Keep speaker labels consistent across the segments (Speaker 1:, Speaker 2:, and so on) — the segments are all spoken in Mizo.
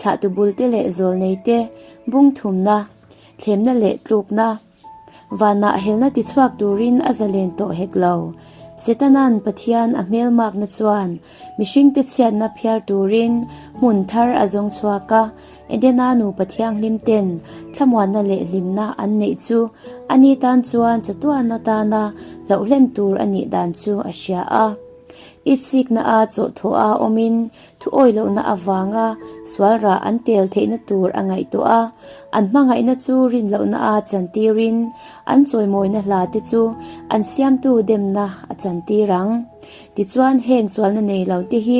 Speaker 1: Thlahtu bulte leh zawlneite bungthumna, thlemna leh tlukna, vanah helna tichhuak turin a zalen tawh hek lo. Setana'n Pathian a hmelmakna chuan mihringte chhiatna phiar turin hmun thar a zawng chhuak a. Edena nupa thianghlim ten thlamuanna leh hlimna an neih chu ani tan chuan chatuan atana hlauhlen tur a nih dan chu a hria a. I chikna a chawhthawh a awmin thuawi lohna avanga sualrah an tel theihna tur a ngaihtuah a. An hmangaihna chu rin lohna a chantir in an chawimawina hla te chu an siamtu demna a chantir ang. Tichuan heng sualna nei lo te hi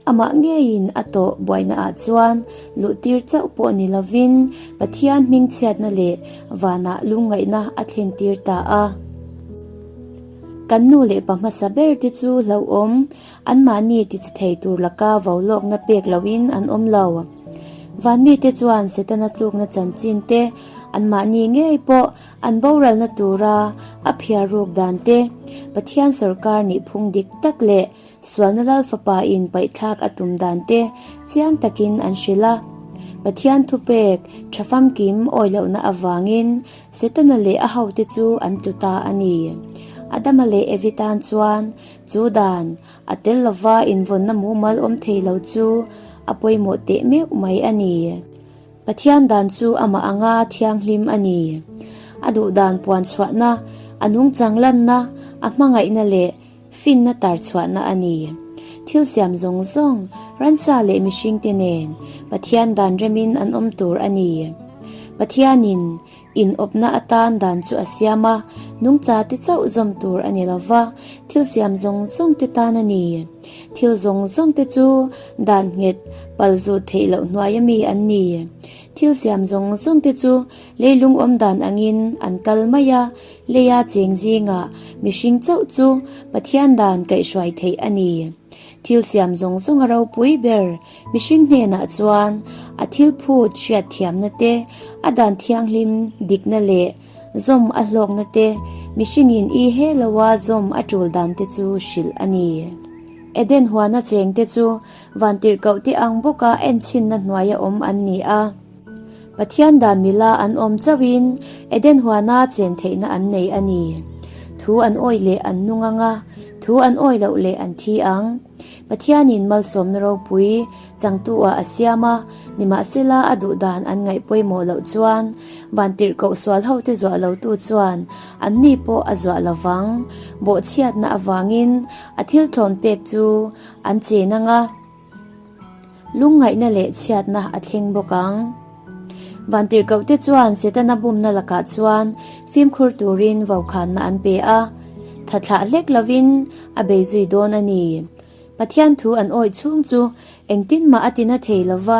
Speaker 1: Amah ngeiin a tawh buainaah chuan luhtir chauh pawh ni lovin Pathian hmingchhiatna leh vanah lungngaihna a thlentir ta a. Kan nu leh pa hmasa ber te chu hlauhawm anmahni tichithei tur laka vaulawkna pek lohin an awm lo. Van mite chuan Setana tlukna chanchin te, anmahni ngei pawh an boralna tura a phiar ruk dan te, Pathian sorkar nih phung dik tak leh Sualna Lal fapa in paihthlak a tum dan te chiang takin an hrilh a, Pathian thupek tha famkim awi lohna avangin Setana leh a hote chu an tlu ta a ni. Adama leh Evi tan chuan chu dan a tel lova invawnna mumal awm thei lo chu a pawimawh teh meuh mai a ni. Pathian dan chu amah anga thianghlim a ni. A duh dan puan chhuahna, a nungchang lanna, a hmangaihna leh. Finna tar chhuahna a ni. Thil siam zawng zawng, ransa leh mihringte nen Pathian dan remin an awm tur a ni. Pathianin inawpna atan dan chu a siam a, nungchate chauh zawm tur a ni lova, thil siam zawng zawngte tan a ni. Thil zawng zawngte chu dan nghet pal zut theih loh hnuai ami an ni. Thil siam zawng zawngte chu leilung awm dan angin an kal mai a, Leia cheng zingah mihring chauh chu Pathian dan kaihhruai theih a ni. Thil siam zawng zawnga ropui ber mihring hnenah chuan a thilphut hriat thiamna te, a dan thianghlim dikna leh zawm a hlawkna te mihringin i he loa zawm a tul dan te chu hrilh a ni. Eden huana cheng te chu van tirhkohte ang bawka enchinna hnuaia awm an ni a. Pathian dan mila an awm chauhin Eden huana chen theihna an nei a ni. Thu an awih leh an nung ang a, thu an awih loh leh an thi ang. Pathianin malsawmna ropui changtuah a siam a, nimahsela a duhdan an ngaih pawimawh loh chuan vantirh koh sualhote zuah lotu chuan anni pawh a zuah lo vang. Bawhchhiatna avangin a thilthlawn pek chu an chen ang a. Lungngaihna leh chhiatna a thleng bawk ang. Vantirhkohte chuan Setana bumna lakah chuan fimkhur turin vokhanna an pe a, thathlah hlek lovin a bei zui dawn a ni. Pathian thu an awih chhung chu engtin mah a ti na thei lo va,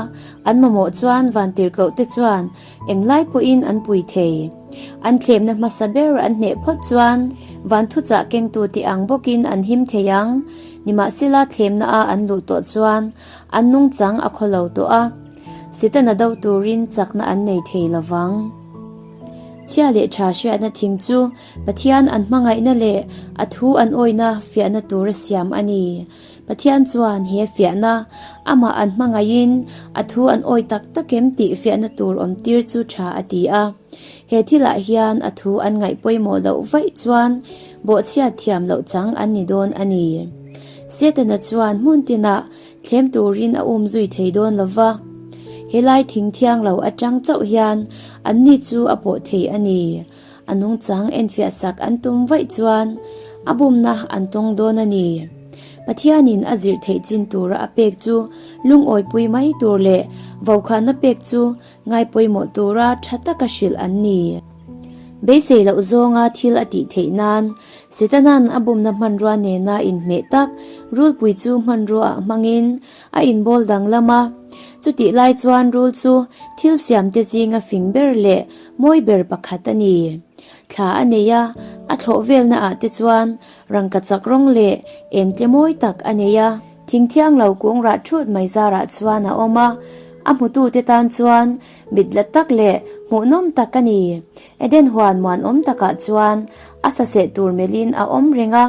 Speaker 1: an mamawh chuan vantirhkohte chuan englai pawhin an pui thei. An thlemna hmasa ber an hneh phawt chuan vanthuchah kengtute ang bawkin an him thei ang. Nimahsela thlemna a an luh tawh chuan an nung chang a khaw lo tawh a, Sitana do turin chakna an nei thei lo vang. Chhia leh tha hriatna thing chu Pathian an hmangaihna leh a thu an awina fiahna tur a siam a ni. Pathian chuan he fiahna amah an hmangaihin a thu an awi tak tak em tih fiahna tur awm tir chu tha a ti a. He thilah hian a thu an ngaih pawimawh loh vaih chuan, Bawhchhiat thiam loh chang an ni dawn a ni. Setana chuan hmun tinah thlem turin a um zui thei dawn lo va. Helai thing thiang lo atang chauh hian anni chu a pawh thei a ni. A nungchang enfiah sak an tum vaih chuan a bumna an tawng dawn a ni. Pathianin a zirh theih chin tura a pek chu lungawipui mai tur leh vokhahna pek chu Ngai pawimawh tura tha taka hrilh an ni. Beisei loh zawnga thil a tih theih nan, Setana'n a bumna hmanrua nena inhmeh tak rulpui chu hmanruaah hmangin a inbawl danglam a. Chutih lai chuan rul chu thil siamte zinga fing ber leh mawi ber pakhat a ni. Thla a nei a, a thlawh velna ah te chuan rangkachak rawng leh eng tle mawi tak a nei a. Thingthiang lo kung rah thut mai zarah chuan a awm a, a hmutute tan chuan mit la tak leh hmuh nawm tak a ni. Eden huan muanawm takah chuan a sa seh tur melhin a awm reng a.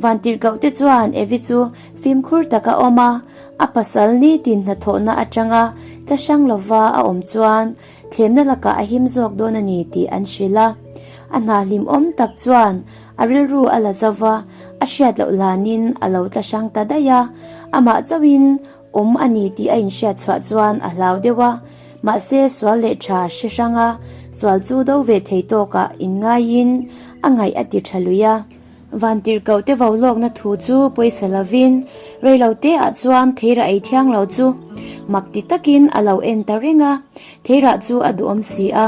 Speaker 1: Vantirhkohte chuan Evi chu fimkhur tak a awm a, a pasal nitin hnathawhna atanga tla hrang lova a awm chuan Thlemna lakah a him zawk dawn a ni tih an hrilh a, a hna hlimawm tak chuan a rilru a la zauh a, a hriat loh hlanin a lo tla hrang ta daih a, amah chauhin awm a ni tih a inhriat chhuah chuan a hlau deuh a, mahse sual leh tha hre hrang a, sual chu do ve thei tawkah in ngaiin a ngaih a ti tha lui a. Vantirhkoh te vau lawkna thu chu pawisa lovin reilo te ah chuan Theira ei thiang lo chu mak ti takin a lo en ta reng a, Theira chu a duhawm si a,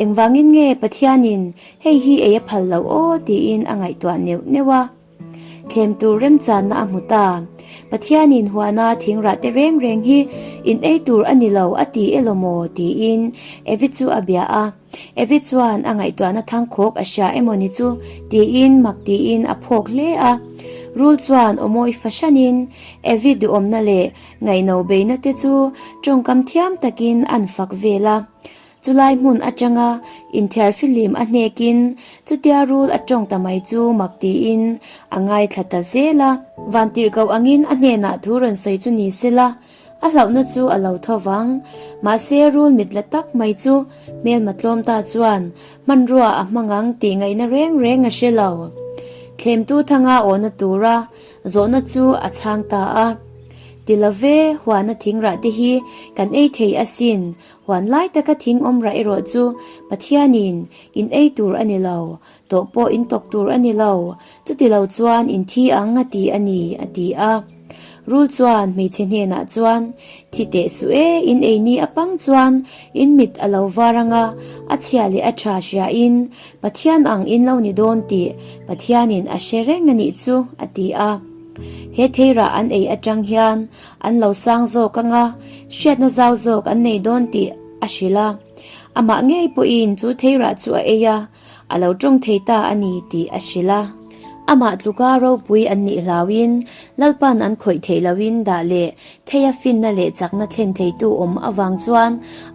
Speaker 1: engvangin nge Pathianin hei hi ei a phal loh aw tiin a ngaihtuah neuh neuh a. Thlem tur remchanna a hmu ta, Pathianin huana thingrah te reng reng hi inei tur a ni lo a ti e lawmaw tiin Evi chu a bia a. Evi chuan a ngaihtuahna thangkhawk a hria emaw ni chu? tiin mak tiin a phawk hle a. Rul chuan awmawi fahranin Evi duhawmna leh ngaihno beihna te chu tawngkam thiam takin a an fak vel a. Chulai hmun atanga inthiar filim a hnekin chutia rul a tawng ta mai chu mak tiin a ngaithla ta zel a. Vantirhkoh angin a hnenah thu rawn sawi chu ni sela, A hlauhna chu a lo tho vang. Mahse, rul mit la tak mai chu hmelma tlawm ta chuan hmanrua a hmang ang tih ngaihna reng reng a hre lo. Thlemtu thanga awna tura zawhna chu a chhang ta a, Ti lo ve, huana thing rah te hi kan ei thei asin, huan lai taka thing awm rah erawh chu Pathianin in ei tur a ni lo, Tawh pawh in tawk tur a ni lo. Chuti lo chuan in thi ang a ti a ni, a ti a. Rul chuan hmeichhe hnenah chuan, Thi teh suh e, in ei ni a pang chuan in mit a lo var ang a, a chhia leh a tha hria in Pathian ang in lo ni dawn tih Pathianin a hre reng a nih chu, a ti a. He thei rah an ei atang hian an lo sang zawk ang a, hriatna zau zawk an nei dawn tih a hrilh a. Amah ngei pawhin chu thei rah chu a ei a, A lo tawng thei ta a ni tih a hrilh a. Amah tluka ropui an nih hlau in Lalpan an khawih theih lo in dah leh thei a finna leh chakna thlen theitu awm avang chuan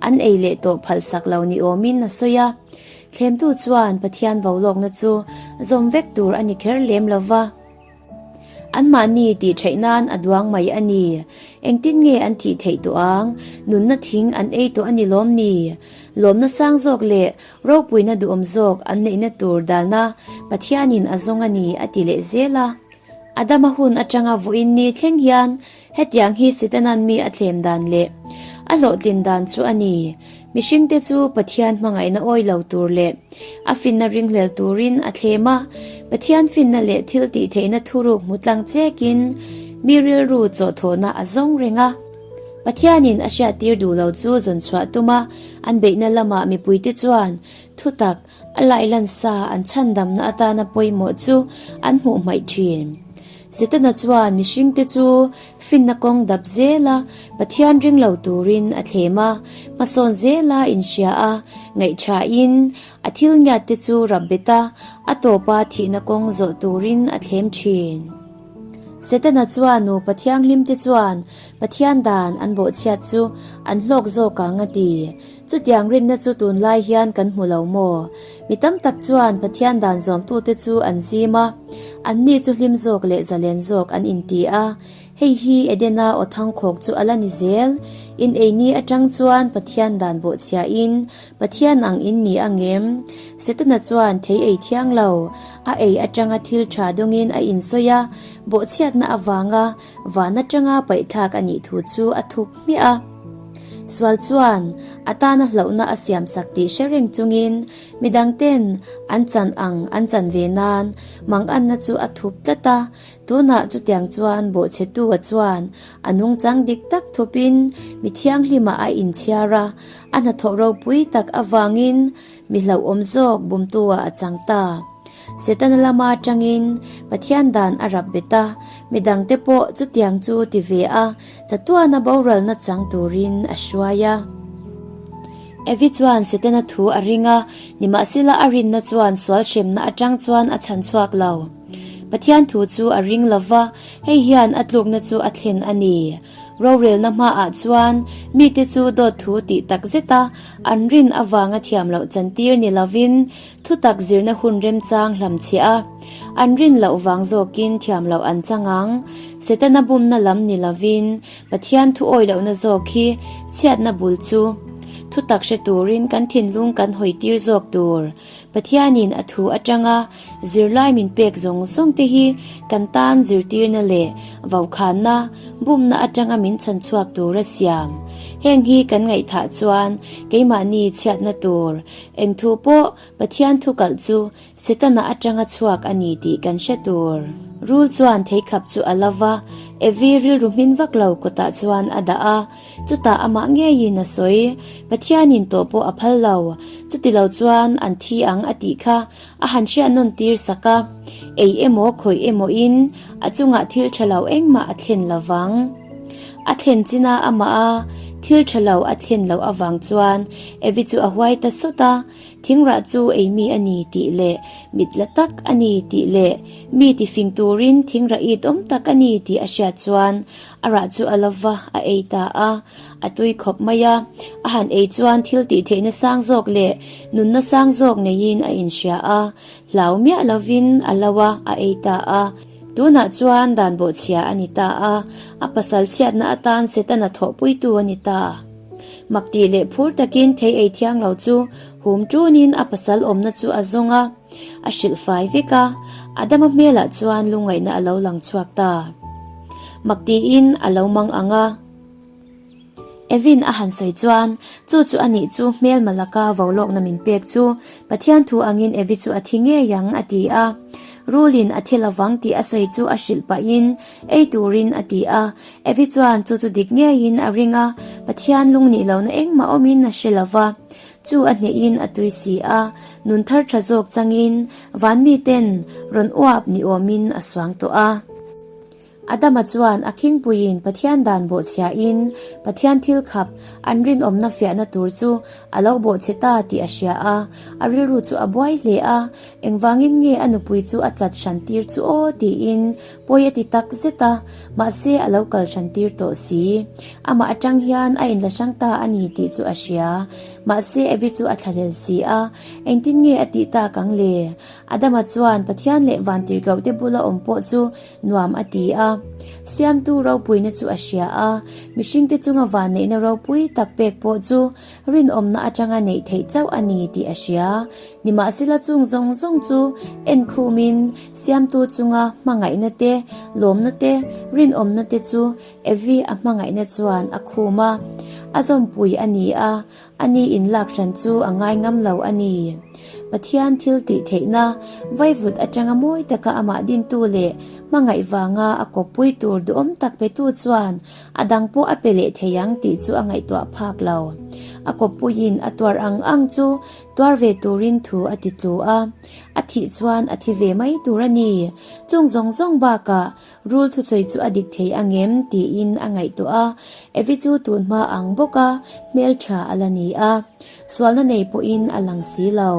Speaker 1: an ei leh tawh phalsak lo ni awm in a sawi a. Thlemtu chuan Pathian vo lawkna chu zawm vek tur a ni kher lem lo va. Anmahni tih theih nan a duang mai a ni. Engtin nge an tih theih tawh ang? Nunna thing an ei tawh a ni lawm ni? Lawmna sang zawk leh ropuina duhawm zawk an neihna tur dalna Pathianin a zawng a ni a ti leh zel a. Adama hun atanga vawiin ni thleng hian Hetiang hi Sitanan mi a thlem dan leh a hlawhtlin dan chu a ni. Mihringte chu Pathian hmangaihna awi lo tur leh a finna ringhlel turin a thlem a. Pathian finna leh thil tihtheihna thuruk hmu tlang chekin mi rilru chawhthawhna a zawng reng a. Pathianin a hriattir duh lo chu zawnchhuah tuma an beihna lamah mipuite chuan thutak A lailansa an chhandamna atana pawimawh chu an hmuh hmaih thin. Setana chuan mihringte chu finna kawng dap zela Pathian ring lo turin a thlem a, hmasawn zela inhria a, ngaihṭhahin a thilngiatte chu rap bet a, a tawpa thihna kawng zawh turin a thlem thin. Setana chuan nupa thianghlimte chuan Pathian dan an bawhchhiat chu an hlawk zawk ang a ti. Chutiang rinna chu tunlai hian kan hmu lo maw? Mi tam tak chuan Pathian dan zawmtute chu an zim a, anni chu hlim zawk leh zalen zawk an inti a. Hei hi Edena aw thangkhawk chu a la ni zel. In eini atang chuan Pathian dan bawhchhiahin Pathian ang in ni ang em? Setana chuan thei ei thiang lo, a ei atanga thil tha dawngin a insawi a, bawhchhiatna avanga, Vân aṭanga paihthlâk a nih thu chu a thup hmiah a. Sual chuan a tâna hlauhna a siamsak tih hre reng chungin midangte'n an chan ang an chan ve nân manganna chu a thup tlat a. Tûnah chutiang chuan bawhchhetua chuan a nungchang dik tak thupin mi thianghlima a inchhiar a, a hnathawh ropui tak avângin, Mi hlauhawm zawk bumtu-ah a chang ta. Setana lama tangin Pathian dan a rap bet a, mi dangte pawh chutiang chu ti ve a, chatuana boralna chang turin a hruai a. Evi chuan Setana thu a ring a, nimahsela a rinna chuan sual hremna atang chuan a chhan chhuak lo. Pathian thu chu a ring lo va, hei hian a tlukna chu a thlen a ni. Rorelna hmaah chuan mite chu dawt thu tih tak zeta an rin avanga thiam loh chantir ni lovin thutak zirna hun remchang hlam chhe a, an rin loh vang zawkin thiam loh an chang ang. Setana bumna lam ni lovin Pathian thu awi lohna zawk hi chhiatna bul chu thutak hre turin kan thinlung kan hawitir zawk tur, Pathianin a thu atanga zirlai min pek zawng zawng te hi kan tan zirtirna leh vokhana, bumna atanga min chhan chhuak tur a siam. Heng hi kan ngaihthah chuan keimahni chhiatna tur eng thu pawh Pathian thu kalh chu Setana atanga chhuak a ni tih kan hre tur. Rul chuan theikhap chu a la va, Evi rilru hmin vak lo kawtah chuan a dah a. Chutah amah ngeiin a sawi. Pathianin tawh pawh a phal lo. Chuti lo chuan an thi ang a tih kha a han hriat nawn tir sak a. Ei emaw khawih emawihin a chungah thil tha lo engmah a thlen lo vang. A thlen chin a amaha thil tha lo a thlen loh avang chuan Evi chu a huai ta sawt a. Thingrah chu ei mi a ni tih leh mit la tak a ni tih leh mi tifing turin thingrah it awm tak a ni tih a hriat chuan a rah chu a la va a ei ta a, a tui khawp mai a. A han ei chuan thil tih theih nasang zawk leh nun nasang zawk neiin a inhria a, hlau miah lovin a lo a a ei ta a. Tunah chuan dan bawhchhia a ni ta a, a pasal chhiatna atan setana thawhpuitu a ni ta. Mak tih leh phur takin thei ei thiang lo chu hum tunin a pasal awmna chu a zawng a, a hrilh fai vek a, a dama hmelah chuan lungngaihna a lo lang chhuak ta. Mak tiin a lo mang ang a. Evin a han sawi chuan, Chu chu a nih chu hmelma laka vo lawkna min pek chu, Pathian thu angin Evi chu a thi ngei ang, a ti a. Rulin a thi lovang tih a sawi chu a hrilh pahin ei turin a ti a, Evi chuan chu chu dik ngeiin a ring a, Pathian lung nih lohna engmah awmin a hre lo va, chu a hnehhin a tui si a, nun thar tha zawk changin van miten rawn uap ni awmin a suang tawh a. Adama chuan a khingpuiin Pathian dan bawhchhiahin Pathian thil khap, an rinawmna fiahna tur chu a lo bawh che ta tih a hria a, a rilru chu a buai hle a, engvangin nge a nupui chu a tlat hran tir chu aw tiin Pawi a ti tak zet a, mahse a lo kal ṭhan tir tawh si. Amah aṭang hian a inla hrang ta a ni tih chu a hria. Mahse Evi chu a thlahlel si a, engtin nge a tih tak ang le? Adama chuan Pathian leh van tirhkohte bula awm pawh chu nuam a ti a. Siamtu ropuina chu a hria a, mihringte chunga vanneihna ropui tak pek pawh chu rinawmna aṭanga neih theih chauh a ni tih a hria. Nimahsela chung zawng zawng chu enkhumin siamtu chunga hmangaihna te, lawmna te, rinawmna te chu Evi a hmangaihna chuan a khum a, a zawmpui a ni a, a ni in lak hran chu a ngai ngam lo a ni. Pathian thil tih theihna, vaivut atanga mawi taka amah dintu leh hmangaih vanga a kawppui tur duhawm tak petu chuan a dang pawh a pe leh thei ang tih chu a ngaihtuah phak lo. A kawppuiin a tuar ang ang chu Tuar ve turin thu a ti tlu a, a thih chuan a thi ve mai tur a ni. Chung zawng zawng bakah rul thusawi chu a dik thei ang em? tiin a ngaihtuah a, Evi chu tun hma ang bawk a hmeltha a la ni a, sualna nei pawhin a lang si lo.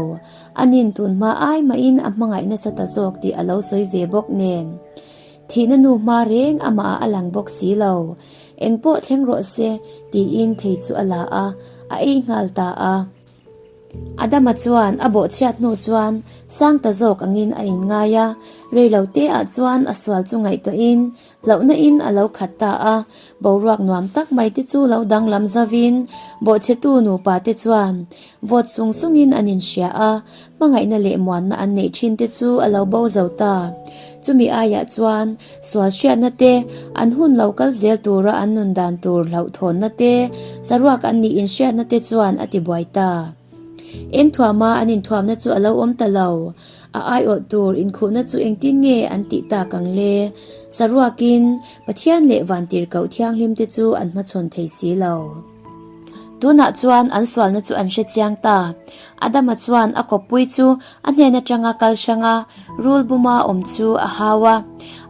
Speaker 1: A nin tun hma ai mahin a hmangaih nasa ta zawk tih a lo sawi ve bawk nen. Thihna nu hma reng amah a lang bawk si lo, engpawh thleng rawh se tiin thei chu a la a, a ei nghal ta a. Adama chuan a bawhchhiat hnu chuan sang ta zawk angin a inngai a, rei lo te ah chuan a sual chu ngaihtuah in hlauhna in a lo khat ta a, boruak nuam tak mai te chu lo danglam zau in bawhchhe tu nupa te chuan vawt sung sung in an inhria a, Hmangaihna leh muanna an neih thin te chu a lo bo zo ta. Chumi aiah chuan sual hriatna te, an hun lo kal zel tura an nun dan tur hlauh thawnna te, saruak an nih inhriatna te chuan a ti buai ta. Eng thuama an inthuamna chu a lo awm ta lo, a aiawh tur inkhuhna chu engtin nge an tih tak ang le? Saruakin Pathian leh Vantirhkoh thianghlim te chu an hmachhawn thei si lo. Tunah chuan an sualna chu an hre chiang ta. Adama chuan a kawppui chu a hnen atanga kal hrang a, rul buma awm chu a hau a.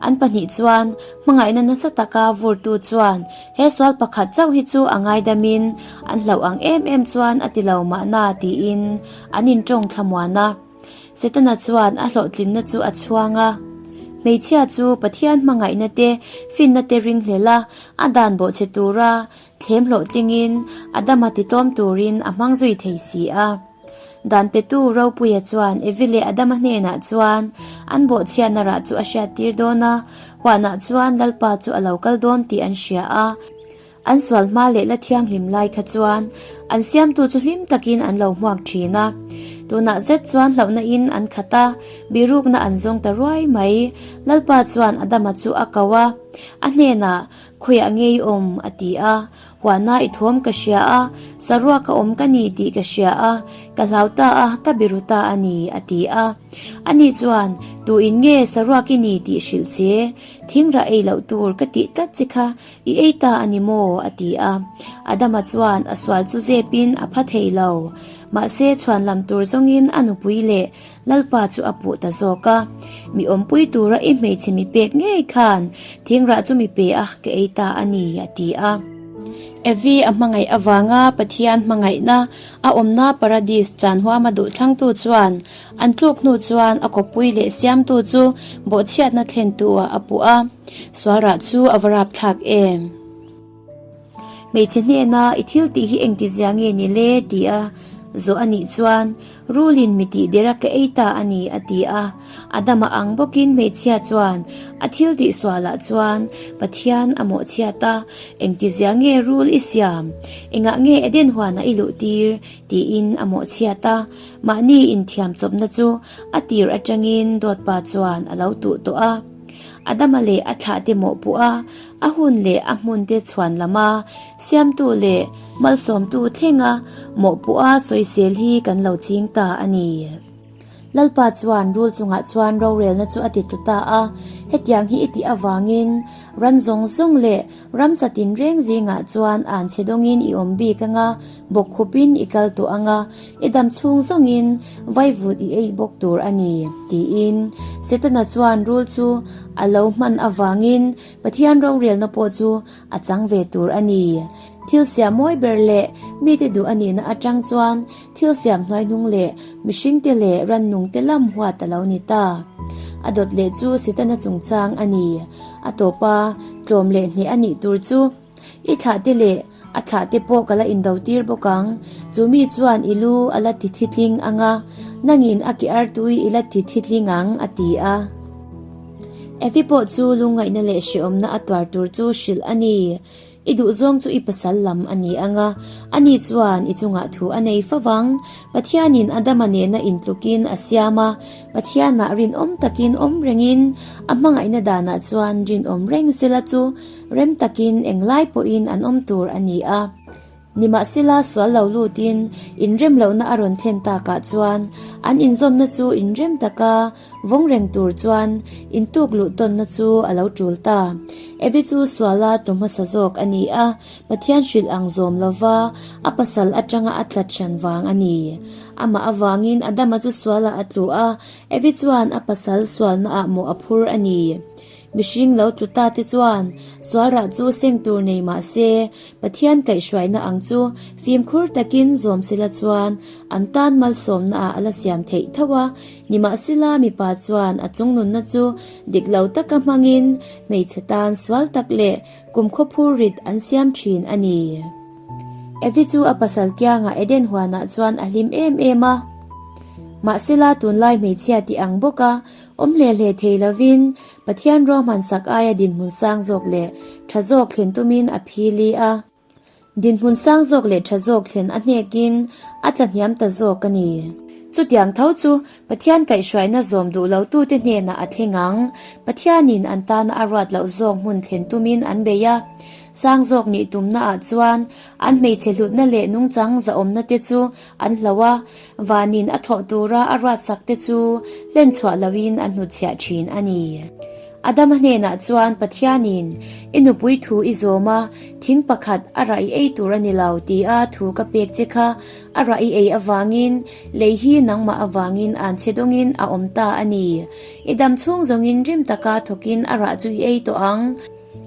Speaker 1: An pahnih chuan hmangaihna nasa taka vurtu chuan he sual pakhat chauh hi chu a ngaidamin an hlauh ang em em chuan a ti lo mahna tiin an intawng thla muan a. Setana chuan a hlawhtlinna chu a chhuang a. Hmeichhia chu Pathian hmangaihna te finna te ring hlel a, a dan bawhchhe tura Thlem hlawh tlingin Adama titlawm turin a hmang zui thei si a. Dan petu Ropuia chuan Evi leh Adama hnenah chuan an bawhchhiatna rah chu a hriattir dawn a, huanah chuan Lalpa chu a lo kal dawn tih an hria a. An sual hma leh la thianghlim lai kha chuan an siamtu chu hlim takin an lo hmuak thin a. Tunah zet chuan hlauhna in an khat a, bihrukna an zawng ta ruai mai. Lalpa chuan Adama chu a ko a, a hnenah Khawiah ngei awm, a ti a. Huana i thuam ka hria a, Saruak a awm ka ni tih ka hria a, ka hlau ta a, ka be ru ta a ni, a ti a. Ani chuan, Tuin nge Saruak i ni tih hrilh che, thingrah ei loh tur ka tih tlat che kha, i ei ta a ni maw? a ti a. Adama chuan a sual chu zepin a pha thei lo. Mahse, chhuanlam tur zawngin a nupui leh. Lalpa chu a puh ta zawk a, Mi awmpui tura i hmeichhe mi pek ngei khan thingrah chu mi pe a ka ei ta a ni, a ti a. Evi a hmangaih avanga Pathian hmangaihna a awmna Paradis chan huama duhthlangtu chuan an tluk hnu chuan a khawpui leh siamtu chu bawhchhiatna thlentu ah a puh a, sualrah chu a va rapthlak em? Hmeichhe hnena i thil tih hi engti zia nge ni le ti a zawh a nih chuan Rulin mi tih der a ka ei ta a ni a ti a. A dam a ang bawkin hmeichhia chuan a thil tih sualah chuan Pathian a mawhchhiat a, engti zia nge Rul i siam, engah nge Eden huanah i luh tir tiin a mawhchhiat a. Mahni inthiam chawpna chu a tir atangin Dawtpa chuan a lo tuh tawh a. A dama leh a thlah te mawhpawh a, a hun leh a hmun te chhuan lama siamtu leh malsawmtu thlenga mawhpawh a sawisel hi kan lo ching ta a ni. Lalpa chuan rul chungah chuan rorelna chu a ti tlu ta a, hetiang hi i tih avangin ran zawng zawng leh. Ramsa tin reng zingah chuan an chhedawngin i awm bik anga, bawk khupin i kal tawh anga, i dam chhung zawngin vaivut i ei bawk tur a ni, tiin Setana chuan rul chu a lo hman avangin Pathian rorelna pawh chu a chang ve tur a ni. Thil siah mawi ber leh mite duh a nihna atang chuan Thil siam hnuai hnung leh mihring te leh ran nung te lam huat a lo ni ta. A dawt leh chu Sitana chungchang a ni. A tawp a, tlawm leh hneh a nih tur chu i thlah te leh a thlah te pawh ka la in do tir bawk ang. Chu mi chuan i lu a la tithi tling ang a, nang in a kear tu i i la tithi tling ang a ti a. Effie pawh chu lungngaihna leh hrehawmna a tuar tur chu hrilh a ni. I duh zawng chu i pasal lam a ni ang a, ani chuan i chungah thu a nei fo vang. Pathianin Adama nena intlukin a siam a, Pathianah rinawm takin awm rengin a hmangaihna danah chuan rinawm reng sela chu rem takin englai pawhin an awm tur a ni a. Nimahsela sual lo lutin inrem lohna a rawn thlen takah chuan an inzawmna chu inrem taka vawng reng tur chuan intuk luh tawnna chu a lo tul ta. Abby chu suala tu hmasa zawk a ni a, Pathian hrilh ang zawm lova a pasal atanga a tlat hran vang a ni. Amah avangin Adama chu suala a tlu a, Abby chuan a pasal sualnaah mawh a phur a ni. Mihring lo tlu ta te chuan sualrah chu seng tur nei mah se, Pathian kaihhruaina ang chu fimkhur takin zawm sela chuan an tan malsawmnaah a la siam theih thauh a, nimahsela mipa chuan a chung nunna chu dik lo taka hmangin hmeichhe tan sual tak leh kum khawphur rit an siam thin a ni. Evi chu a pasal kianga Eden huanah chuan a hlim em em a, mahsela tunlai hmeichhia tih ang bawka Awm hle hle thei lovin Pathian ruang hmansak aia dinhmun sang zawk leh tha zawk thlen tumin a phil i a dinhmun sang zawk leh tha zawk thlen a hnekin a tlahniam ta zawk a ni. Chutiang tho chu Pathian kaihhruaina zawm duh lotute hnenah a thleng ang. Pathianin an tana a ruat loh zawk hmun thlen tumin an bei a. Sang zawk nih tumnaah chuan an hmeichhe hlutna leh nungchang zahawmnate chu an hlo a. Vanin a thawh tura a ruatsak te chu hlen chhuah loin a hnut chhiah thin a ni. Adama hnenah chuan Pathianin, I nupui thu i zawm a, thing pakhat a rah i ei tur a ni lo tia thu ka pek che kha, a rah i ei avangin lei hi nangmah avangin an che dawngin a awm ta a ni. I dam chhung zawngin rim taka thawkin a rah chu i ei tawh ang.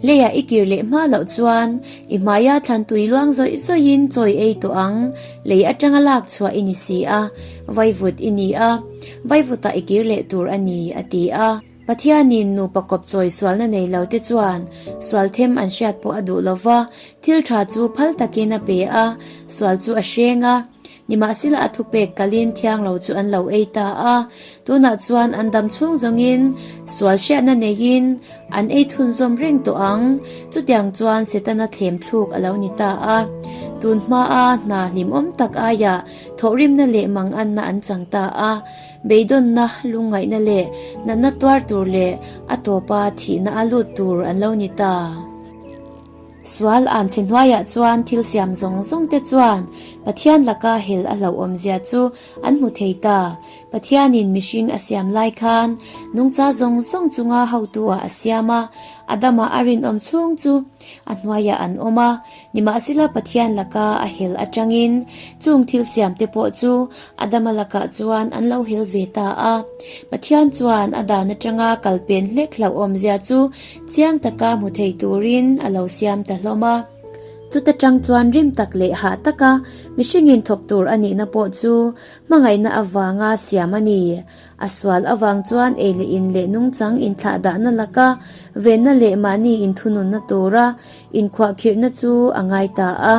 Speaker 1: Leia i kir leh hma loh chuan i hmaia thlan tui luang zawih zawihin chawi ei tawh ang, lei atanga lak chhuah i ni si a, vaivut i ni a, vaivutah i kir leh tur a ni, a ti a. Pathianin nupa kawp chawi sualna nei lote chuan sual them an hriat pawh a duh lo va, thil tha chu phal takin a pe a, sual chu a hreng a. Nimahsela a thupek kalin thiang lo chu an lo ei ta a, tunah chuan an dam chhung zawngin sual hriatna neiin an ei chhunzawm reng tawh ang. Chutiang chuan Setana thlem thluk a lo ni ta a, tun hmaa hna hlimawm tak aiah thawhrimna leh manganna an chang ta a, beidawnna, lungngaihna leh natna tuar tur leh a tawpa thihna a lut tur an lo ni ta. Sual an chhe hnuaiah chuan thil siam zawng zawng te chuan Pathian laka hel a hlauhawmzia chu an hmu thei ta. Pathianin mihring a siam lai khan nungcha zawng zawng chunga hotuah a siam a, Adama a rinawm chhung chu a hnuaiah an awm a, nimahsela Pathian laka a hel atangin chung thil siam te pawh chu Adama lakah chuan an lo hel ve ta a. Pathian chuan a dan atanga kal pen hlek hlauhawmzia chu Chiang taka hmu thei turin a lo siam ta hlawm a. Chuta tang chuan rim tak leh hah taka mihringin thawk tur a nihna pawh chu hmangaihna avanga siam a ni. A sual avang chuan ei leh in leh nungchang inthlah dahna laka venna leh mahni inthununna tura inkhuahkhirhna chu a ngai ta a.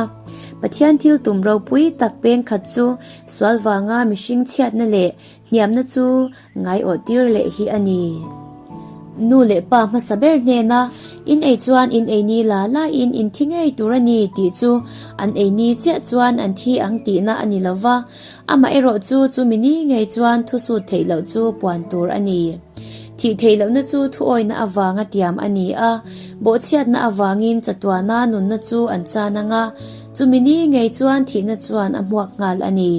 Speaker 1: Pathian thil tum ropui tak peng khat chu sual vanga mihring chhiatna leh Hniamna chu ngaiawh tir leh hi a ni. Nu leh pa hmasa ber hnena in ei chuan in eini la laiin in thi ngei tur a ni tih chu an eini chiah chuan an thi ang tihna a ni lo va, amah erawh chu chu mi ni ngei chuan thusut theih loh chu puan tur a ni. Thih theih lohna chu thuawina avanga tiam a ni a, bawhchhiatna avangin chatuana nunna chu an chan anga, chu mi ni ngei chuan thihna chuan a hmuak nghal a ni.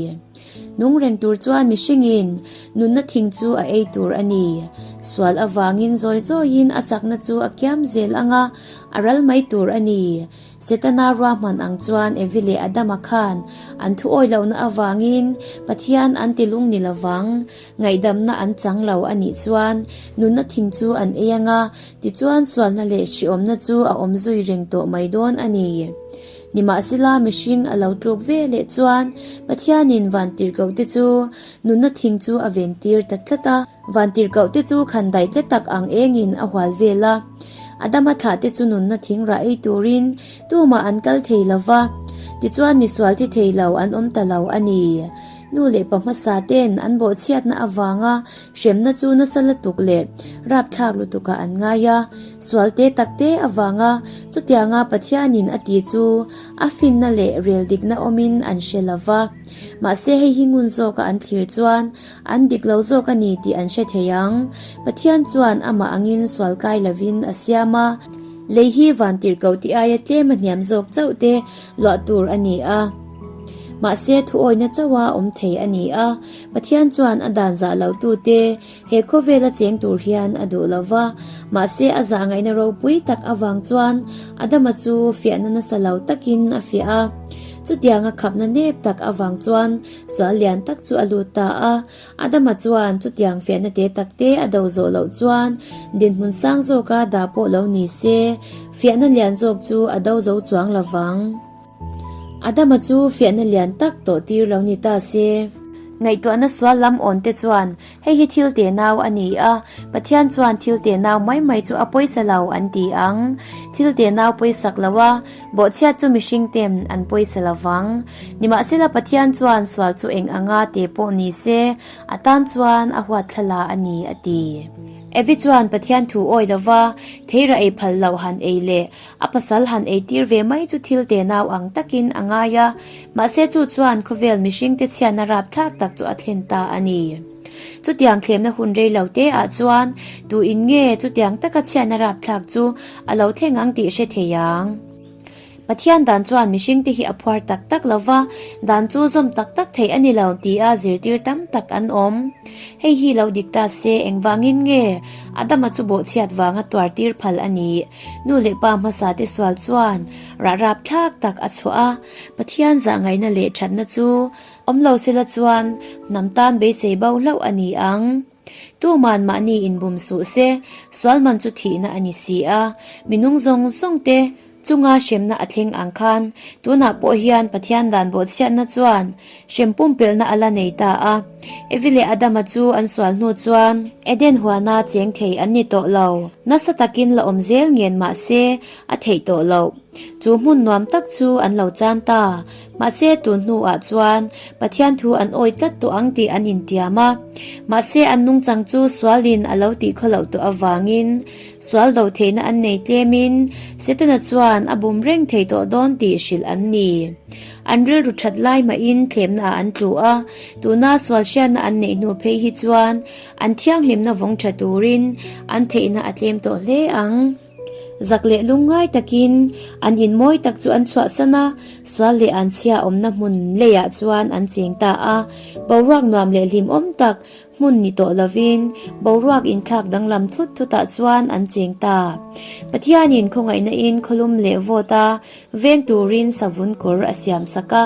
Speaker 1: Nung reng tur chuan mihringin nunna thing chu a ei tur a ni. Sual avangin zawi zawiin a chakna chu a kiam zel ang a, a ral mai tur a ni. Setana ruahman ang chuan Evi leh Adama khan an thuawih lohna avangin Pathian an ti lung ni lo vang. Ngaihdamna an chang lo a nih chuan nunna thing chu an ei ang a, tichuan sualna leh hriawmna chu a awm zui reng tawh mai dawn a ni. Nimahsela mihring a lo tluk ve leh chuan Pathianin vantirhkoh te chu nunna thing chu a ventir ta tlat a. Vantirhkoh te chu khan daih tle tak ang engin a hual vel a. Adama thlah te chu nunna thing rah ei turin tumah an kal thei lo va, tichuan misual thi thei lo an awm ta lo a ni. Nu leh pa hmasa ten an bawhchhiatna avanga Hremna chu nasa lutuk leh rapthlak lutukah an ngai a, sual te takte avanga. Chutianga Pathianin a tih chu a finna leh rel dikna awmin an hre lo va. Mahse hei hi ngun zawka an thlir chuan an dik lo zawk a ni tih an hre thei ang. Pathian chuan amah angin sual kai lovin a siam a. Lei hi van tirh ko tih aia tlem a hniam zawk chauh te luah tur a ni a. Mahse thu awina chauha awm thei a ni a. Pathian chuan a dan zah lohtu te he khawvel a cheng tur hian a duh lo va, mahse a zah ngaihna ropui tak avang chuan Adama chu fiahna nasa lo takin a fiah a. Chutianga khapna nep tak avang chuan sual lian tak chu a lut ta a. Adama chuan chutiang fiahna te takte a do zawh loh chuan dinhmun sang zawka dah pawh lo ni se, fiahna lian zawk chu a do zo chuang lovang. Adama chu fiahna lian tak tawh tir lo ni ta se. Ngaihtuahna sual lam awnte chuan, Hei hi thil te nau a ni a, Pathian chuan thil te nau mai mai chu a pawisa lo an ti ang. Thil te nau pawihsak lo a, bawhchhiat chu mihring ten an pawisa lo vang. Nimahsela Pathian chuan sual chu eng anga te pawh ni se, a tan chuan a huat thla la a ni, a ti. Evi chuan Pathian thu awi lova, thei rah ei phal loh han ei le, A pasal han ei tir ve mai chu thil te nau ang takin a ngai a, mahse chu chuan khawvel mihringte chhiatna rap thlak tak chu a thlen ta a ni. Chutiang thlemna hun rei lo te ah chuan tu in nge chutiang taka chhiatna rap thlak chu a lo thleng ang tih hre thei ang. Pathian dan chuan mihringte hi a phuar tak tak lo va, dan chu zawm tak tak thei a ni lo ti a zirtir tam tak an awm. Hei hi lo dik ta se, engvangin nge Adama chu bawhchhiat vanga tuar tir phal a nih? Nu leh pa hmasa te sual chuan rahrap thlak tak a chhuah a, Pathian zah ngaihna leh thatna chu awm lo se la chuan hnam tan beisei bau hlauh a ni ang. Tu man mahni inbum suh se, sual man chu thihna a ni si a, minung zawng zawng te chunga hremna a thleng ang khan tunah pawh hian Pathian dan bawhchhiatna chuan Hrem pumpelhna a la nei ta a. Evi leh Adama chu an sual hnu chuan. Eden huana cheng thei an ni tawh lo. Nasa takin la awm zel ngen mah se a theih tawh loh. Chu hmun nuam tak chu an lo chan ta. Mahse tun hnu ah chuan Pathian thu an awi tlat tawh ang tih an intiam a. Mahse an nungchang chu sual in a lo tih khaw loh tawh avangin sual do theihna an nei tlem in Setana chuan a bum reng thei tawh dawn tih hrilh an ni. An rilru that lai mahin thlemnaah an tluh a, tuna sualhriatna an neih hnu phei hi chuan an thianghlimna vawng tha turin an theihna a tlem tawh hle ang. Zak leh lung ngai takin an inmawi tak chu an chhuahsan a, sual leh an chhia awmna hmun leiah chuan an cheng ta a, boruak nuam leh hlimawm tak, Hmun ni tawh lovin boruak inthlak danglam thut thutah chuan an cheng ta. Pathianin khawngaihnain khawlum leh vawta veng turin savun kawr a siam sak a.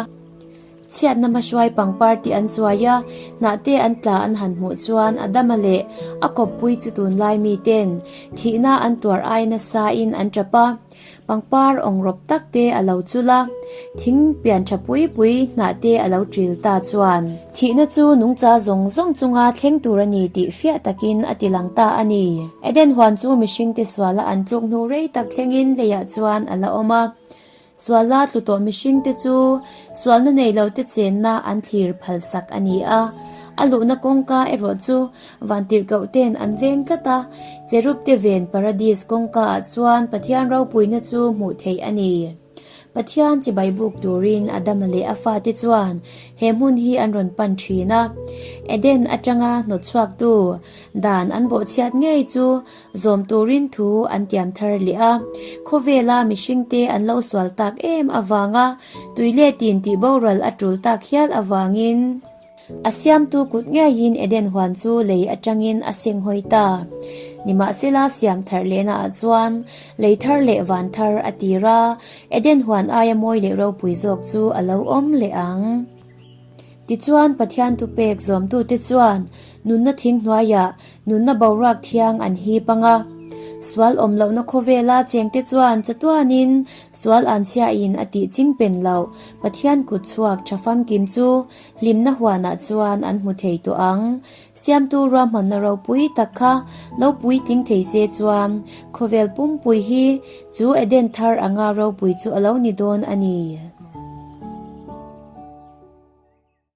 Speaker 1: Chhiatna hmahruai pangpar tih an chuai a, hnahte an tla an han hmuh chuan a dama leh a kawppui chu tunlai miten thihna an tuar ai nasa in an tap a. Pangpar awng rawp tak te a lo chul a, thing pian tha pui pui hnah te a lo ṭil ta chuan. Thihna chu nungcha zawng zawng chunga thleng tur a ni tih fiah takin a ti lang ta a ni. Eden huan chu mihringte suala an tluk hnu rei tak thlengin leiah chuan a la awm a. Suala tlu tawh mihringte chu sualna nei lote chenna an thlir phalsak a ni a. A luhna kawngka erawh chu Vantirhkohten an veng tlat a, Cherubte ven Paradis kawngkaah chuan Pathian ropuina chu hmuh theih a ni. Pathian chibai buk turin Adama leh a fate chuan he hmun hi an rawn pan thin a. Eden atanga hnawtchhuaktu dan an bawhchhiat ngei chu zawm turin thu an tiam thar leh a. Khawvela mihringte an lo sual tak em avanga tui leh tin tihboral a tul tak hial avangin, A siamtu kut ngeiin Eden huan chu lei atangin a seng hawi ta. Nimahsela siam thar lehna ah chuan lei thar leh van thar a tir a, Eden huan aia mawi leh ropui zawk chu a lo awm leh ang. Tichuan, Pathian thupek zawmtute chuan nunna thing hnuai ah nunna boruak thiang an hip ang a. Sual awm lohna khawvela chengte chuan chatuan in sual an chiahin a tihching pen loh Pathian kut chhuak tha famkim chu Hlimna huanah chuan an hmu thei tawh ang. Siamtu ruahmanna ropui tak kha lo puitling thei se chuan khawvel pumpui hi chu Eden thar anga ropui chu a lo ni dawn a ni.